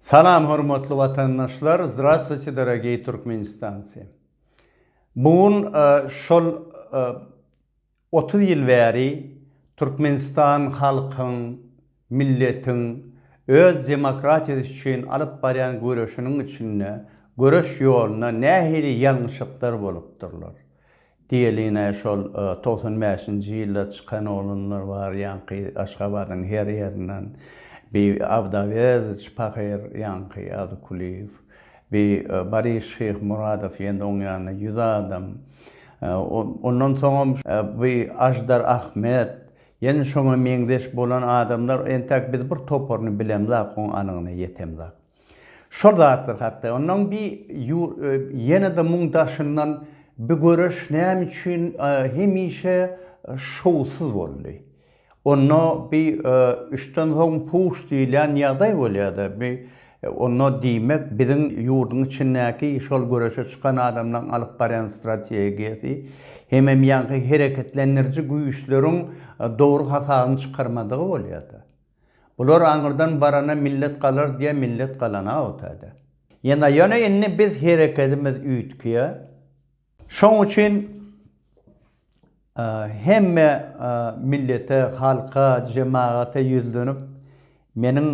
Salam hormatly watandaşlar Zdravstvuyte dorogiý Türkmenistanci Bu gün şol otuz ýyl bäri Türkmenistan halkyň milletiň öz demokratiýasy üçin alyp barýan göreşiniň içinde göreş ýolunda nähili ýalňyşyklar bolupdyrlar Diýeline şol togsan bäşinji ýylda çykan oglanlar bar ýaňky Aşgabadyň her ýerinden bi Abdaweziç pahyr ýaňky Adykulyýew bi Baris Şyhmuradow ýende oň ýanyna ýüz adam ondan soňam bi Aždar Ahmet ýene şoňa meňzeş bolan adamlar entäk biz bir toparyny bilemzak oň anygyna ýetemzak. Şol zatlar hakda ondan bi ýene-de muň daşyndan bi göreş näme üçin hemişe şowsuz boldy. Onda bi üçden soň puş diýilýän ýagdaý bolýardy. Bi onda diýmek biziň ýurduň içindäki şol göreşe çykan adamlaň alyp barýan strategiýasy hemem ýaňky hereketlendiriji güýçleriň dogry hasabyny çykarmadygy bolýardy. Bular aňyrdan barana millet galar diýä millet galana o täze. Ýene ýöne indi biz herekedimiz üýtgýä. Şoň üçin hemme millete halka jemagata ýüzlenip meniň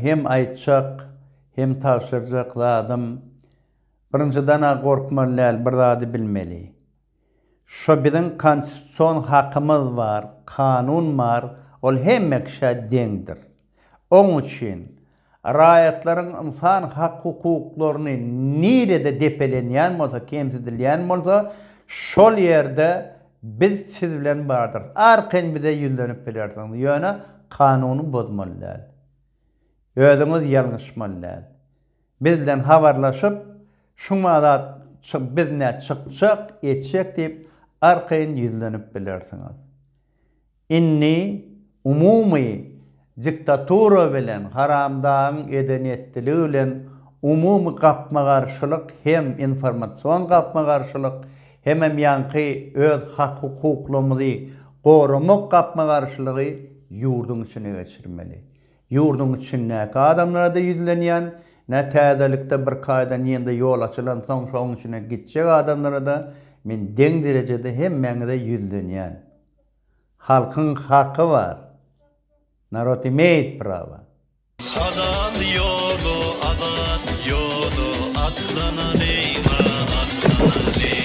hem aýtjak hem tabşyrjak zadym birinjidana gorkmaly däl bir zady bilmeli. Şo biziň konstitusion hakymyz bar, kanun bar, ol hemme kişä deňdir. Oň üçin raýatlaryň ynsan hak-hukuklaryny nirede depelenýän bolsa, kemsidilýän bolsa, şol ýerde biz siz bilen bardyrys. Arkaýyn bize ýüzlenip bilersiňiz, ýöne kanuny bozmaly däl. Özüňiz ýalňyşmaly däl. Bizden habarlaşyp, şuňa zat biz nä çykjak, etjek diýip arkaýyn ýüzlenip bilersiňiz. Indi umumy diktatura bilen, haramdagyň edenetdiligi bilen umumy gapma-garşylyk hem informasion gapma-garşylyk, hemem ýaňky öz hak-hukuklymyzy goramak gapma-garşylygy ýurduň içine geçirmeli. Ýurduň içindäki adamlara-da ýüzlenýän, nä täzelikde bir kaýdan ýene-de ýol açylansoň şoň içine gitjek adamlara-da men deň derejede hemmäňize ýüzlenýän. Halkyň haky bar. Narod imeýit prawa. Halal ýola azat ýola atlanalyňa atlanalyň.